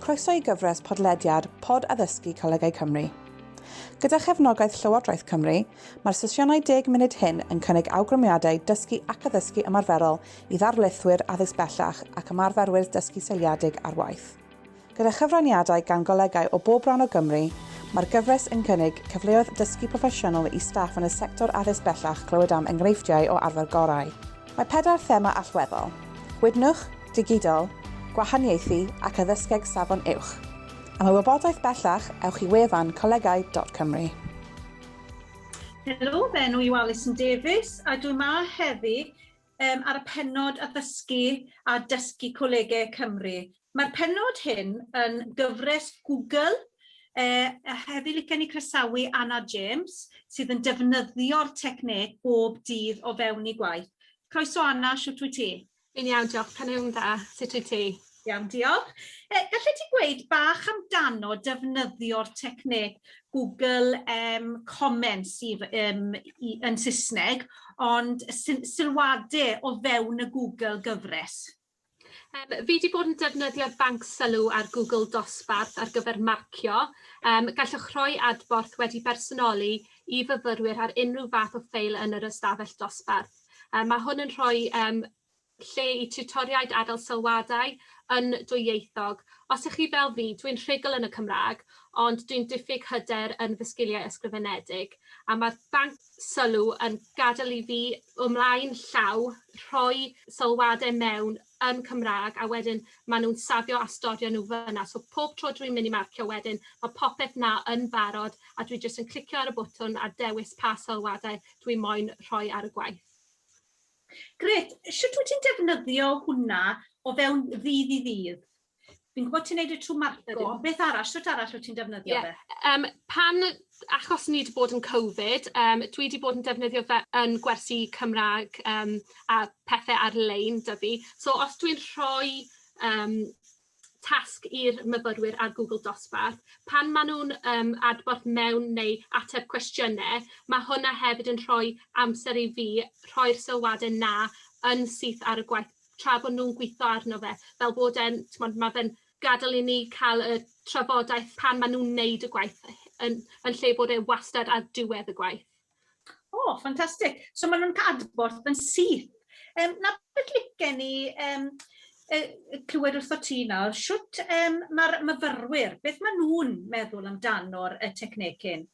Croeso i gyfres podlediad Pod Addysgu Colegau Cymru. Gyda chefnogaeth Llywodraeth Cymru, mae'r sesiynau deg munud hyn yn cynnig awgrymiadau dysgu ac addysgu ymarferol i ddarlithwyr addysg bellach ac ymarferwyr dysgu seiliedig ar waith. Gyda chyfraniadau gan golegau o bob rhan o Gymru, mae'r gyfres yn cynnig cyfleoedd dysgu proffesiynol i staff yn y sector addysg bellach clywed am enghreifftiau o arfer gorau. Mae pedair thema allweddol, Gwydnwch, Digidol, Gwahaniaethu ac Addysgeg Safon Uwch. Am y wybodaeth bellach, ewch i wefan colegau.cymru. Helo, fy enw i yw Alison Davies a dwi 'ma heddi um, ar y penod addysgu a dysgu colegau Cymru. Mae'r penod hyn yn gyfres Google uh, a hefyd licen i croesawu Anna James sydd yn defnyddio'r techneg bob dydd o fewn i gwaith. Croeso Anna, siwt wyt ti? Fi'n iawn, diolch. Pan yw'n dda, sut wyt ti? Iawn, diolch. E, gallet ti gweud bach amdano defnyddio'r techneg Google um, Comments i, um, i, yn Saesneg, ond sylwadau o fewn y Google gyfres? Um, fi wedi bod yn defnyddio'r banc sylw ar Google Dosbarth ar gyfer marcio. Um, gallwch rhoi adborth wedi bersonoli i fyfyrwyr ar unrhyw fath o ffeil yn yr ystafell dosbarth. Um, mae hwn yn rhoi um, lle i tiwtoriaid a gael sylwadau yn dwyieithog. Os ych chi fel fi, dwi'n rhugl yn y Cymraeg ond dwi'n diffyg hyder yn fy sgiliau ysgrifenedig a mae'r banc sylw yn gadael i fi ymlaen llaw rhoi sylwadau mewn yn Cymraeg a wedyn maen nhw'n safio a storio nhw fan'na. So pob tro dwi'n mynd i marcio wedyn mae popeth 'na yn barod a dwi jyst yn clicio ar y botwm a dewis pa sylwadau dwi moyn rhoi ar y gwaith. Grêt. Sut wyt ti'n defnyddio hwnna o fewn ddydd i ddydd? Fi'n gwybod ti'n neud y trwy marco. Beth arall? Sut arall wyt ti'n defnyddio yeah. fe? Um, pan, achos ni wedi bod yn Covid, um, dwi wedi bod yn defnyddio fe yn gwersi Cymraeg um, a pethau ar-lein dyfu. So os dwi'n rhoi um, tasg i'r myfyrwyr ar Google Dosbarth, pan maen nhw'n um, adborth mewn neu ateb cwestiynau, mae hwnna hefyd yn rhoi amser i fi rhoi'r sylwadau na yn syth ar y gwaith tra bod nhw'n gweithio arno fe, fel bod e'n, mae fe'n gadael i ni cael y trafodaeth pan maen nhw'n neud y gwaith yn, yn lle bod e wastad ar diwedd y gwaith. O, oh, ffantastig. So maen nhw'n cadborth yn syth. Um, na beth licen ni um, clywed wrtho ti nawr, siwt um, mae'r myfyrwyr, beth maen nhw'n meddwl amdano'r y technegyn?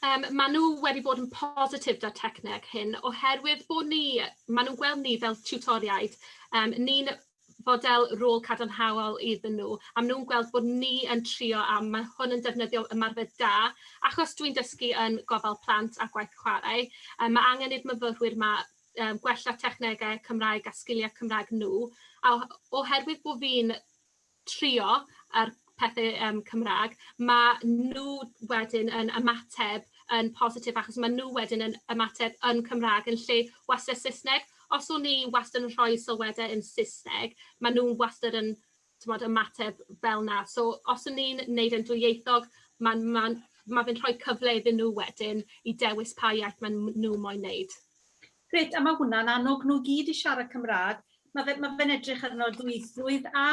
Um, maen nhw wedi bod yn positif da techneg hyn oherwydd bod ni, maen nhw'n gweld ni fel tutoriaid. Um, ni'n fodel rôl cadarnhaol iddyn nhw, a maen nhw'n gweld bod ni yn trio a mae hwn yn defnyddio ymarfer da, achos dwi'n dysgu yn gofal plant a gwaith chwarae, yy ma' angen i'r myfyrwyr 'ma yym gwella technegau Cymraeg a sgiliau Cymraeg nhw, a o- oherwydd bod fi'n trio a'r pethe yym Cymraeg, ma' nhw wedyn yn ymateb yn positif achos ma' nhw wedyn yn ymateb yn Cymraeg yn lle wastad Saesneg. Os o'n i wastad yn rhoi sylwadau yn Saesneg, ma' nhw wastad yn t'mod ymateb fel 'na. So os o'n i'n neud e'n dwyieithog, ma'n ma'n ma' fe'n rhoi cyfle iddyn nhw wedyn i dewis pa iaith ma' n- nhw moyn neud. Grêt a ma' hwnna'n annog nhw i gyd i siarad Cymraeg. Ma' fe- ma' fe'n edrych arno dwyieithrwydd a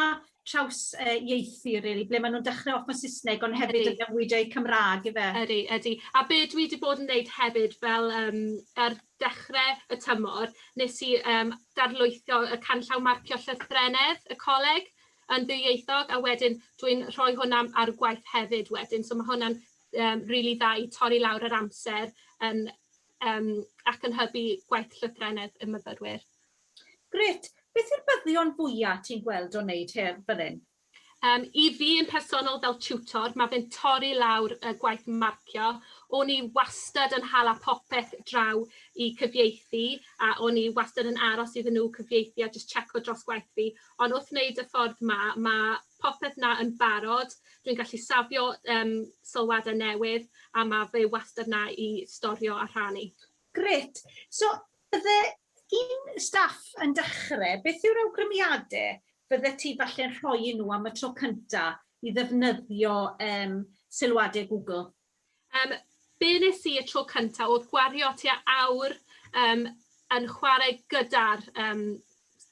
traws yy ieithu rili ble ma' nhw'n dechre off mewn Saesneg ond hefyd... Ydi. ...yn newid eu Cymraeg ife? Ydi ydi. A be' dwi 'di bod yn neud hefyd fel yym ar dechre y tymor nes i yym darlwytho y canllaw marcio llythrennedd y coleg yn ddwyieithog a wedyn dwi'n rhoi hwnna ar y gwaith hefyd wedyn so ma' hwnna'n yym rili dda i torri lawr yr amser yn um, ac yn hybu gwaith llythrennedd y myfyrwyr. Gret. Beth yw'r byddion fwyaf ti'n gweld o'n wneud her fel hyn? Um, I fi yn personol fel tutor, mae fe'n torri lawr y gwaith marcio. O'n i wastad yn hala popeth draw i cyfieithu a o'n i wastad yn aros iddyn nhw cyfieithu a just checo dros gwaith fi. Ond wrth wneud y ffordd ma, mae popeth 'na yn barod, dwi'n gallu safio um, sylwadau newydd a mae fe wastad 'na i storio a rhannu. Gret. So, bydde un staff yn dechrau, beth yw'r awgrymiadau bydde ti falle'n rhoi i nhw am y tro cyntaf i ddefnyddio um, sylwadau Google? Um, be nes i y tro cyntaf oedd gwario tua awr um, yn chwarae gyda'r um,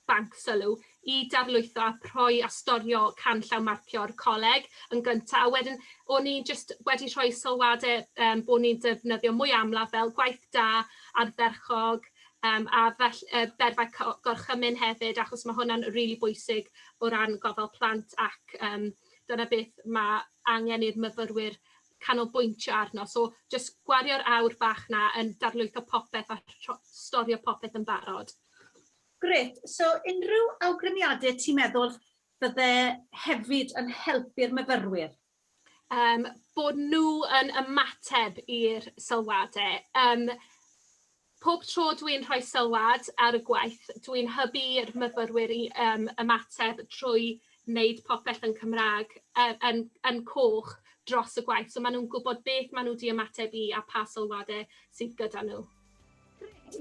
banc sylw i darlwytho a rhoi a storio canllaw marcio'r coleg yn gyntaf. A wedyn, o'n i'n just wedi rhoi sylwadau um, bod ni'n defnyddio mwy amlaf fel gwaith da, ardderchog, um, a fel, uh, berfau gorchymyn hefyd, achos mae hwnna'n rili really bwysig o ran gofal plant ac um, dyna beth mae angen i'r myfyrwyr canolbwyntio arno. So jyst gwario'r awr bach na yn darlwytho popeth a storio popeth yn barod. Gret, so unrhyw awgrymiadau ti'n meddwl fydde hefyd yn helpu'r myfyrwyr? Um, bod nhw yn ymateb i'r sylwadau. Um, Pob tro dwi'n rhoi sylwad ar y gwaith, dwi'n hybu i'r myfyrwyr i yym ymateb trwy wneud popeth yn Cymraeg, yy yn yn coch dros y gwaith, so maen nhw'n gwybod beth maen nhw 'di ymateb i a pha sylwadau sydd gyda nhw.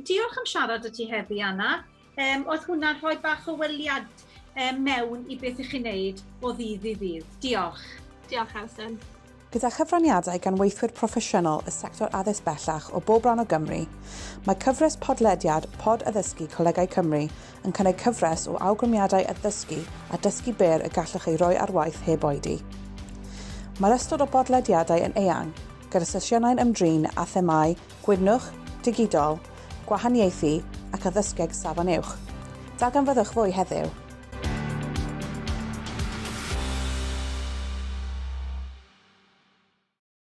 Diolch am siarad 'da ti heddi Anna. Yym, oedd hwnna'n rhoi bach o weliad um, mewn i beth ych chi'n neud o ddydd i ddydd? Diolch. Diolch, Alison. Gyda chyfraniadau gan weithwyr proffesiynol y sector addysg bellach o bob rhan o Gymru, mae cyfres podlediad Pod Addysgu Colegau Cymru yn cynnig cyfres o awgrymiadau addysgu a dysgu byr y gallwch ei roi ar waith heb oedi. Mae'r ystod o bodlediadau yn eang, gyda sesiynau'n ymdrin â themâu Gwydnwch, Digidol, Gwahaniaethu ac Addysgeg Safon Uwch. Darganfyddwch fwy heddiw!